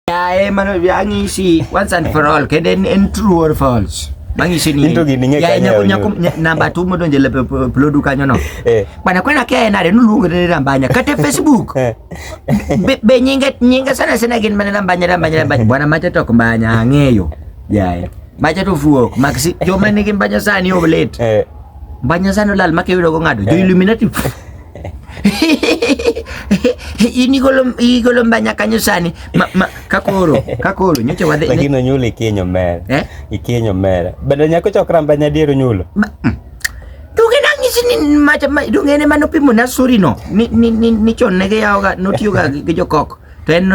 Yae man yang'isi once and for all kendo en en true or false. Mang'isi ni Into gini ng'e yae kanye nyako nyako onyuol. nya- namba tu modonje le plodu kanyo no. Eh. Bana kwena kaya nare nuluongo ne rambanya kata Facebook. Eh. Be, be nyinge nyinge sana sana gin mana rambanya rambanya rambanya. Bwana macha tok mbanya ang'eyo. Yae. Macha to fuok maksi joma nigi mbanya sani oblate. Eh. Mbanya sani olal makiyudo go ng'ado. Jo Illuminati. in igolo igolo mbanya kanyo sani ma, ma, kakoro kakoro nyocha wadhi lakini ne... onyulo ikinyo mere eh? ikinyo mere bende nyako chokra mbanya diero nyulo ma, mm. Donge nang'isi ni macha donge ene mane opimo na suri no ni ni ni, ni chon ne giyawoga notiyoga gi jokoko To en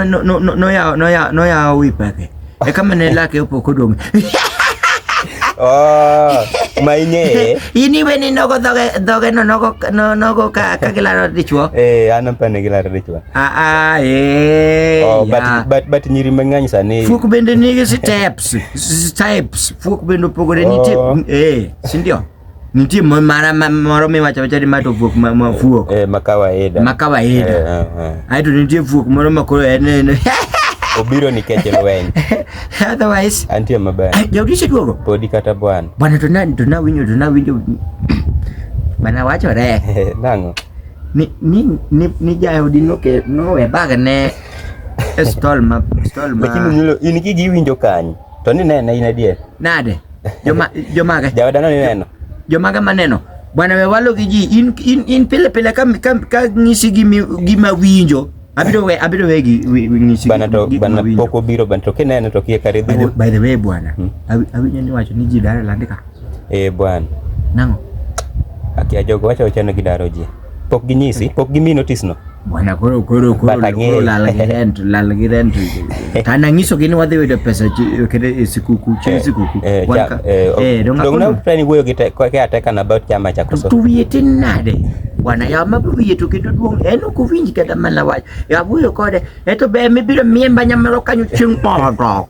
noyawo wi pake. E kama ne lake opo kodong'. Oh, ma ing'eye. In iwe ni nogo dhoge dhoge no nogo no nogo ka ka gilaro dichwo. Eh, an apa ne gilaro dichwo. Ah ah eh. Oh, but yeah. but but nyiri mang'eny sani. Fuok bende nigi steps, steps. Fuok bende opogore oh. nitie. Eh, si ndio? Nitie mara moro miwacho wacha ni ma to fuok ma ma fuok. Eh, ma kawaida. Ma kawaida. Eh, eh, eh. Ai to nitie fuok moro ma koro en en. Obiro nikech lweny. Otherwise, antie maber. Jaudi seduogo. Podi kata bwana. Bwana to na to na winyo to na winyo. Bana wacho re. Nango. Ni ni ni, ni jaudi no ke no e bag ne stol ma stol ma. Lakini in iki giwinjo kanyo. To ni ne ne in adier. Nade? Joma joma ga. Jawada no neno. Joma ga maneno. Bwana wewalo gi ji in in in pile pile ka ka, ka ngisi gi gi mawinjo. Abiro we abiro we gi ngisi. Bana to bana poko biro bana to kinene to kiye kare dhu. By the way bwana. Hmm. Awinyo ni wacho ni ji dare landika. Eh bwana. Nango. Akia jogo wacho chano gidaro ji. Pok ginyisi, pok gimi notice no. Bwana koro koro koro koro lal gi rent, lal gi rent. Kana ngiso gini wadhi yudo pesa kede sikuku, chi sikuku. Eh, eh, eh, eh donga. Donga prani wuoyo gi te kwa ke ateka na about chama cha koso. Tu wiye tin nade? Bwana ya ma wiye to kendo duong en ok winji kata mana wach. Ya wuoyo kode, eto be mibiro miemba nyamero kanyo chieng' moro.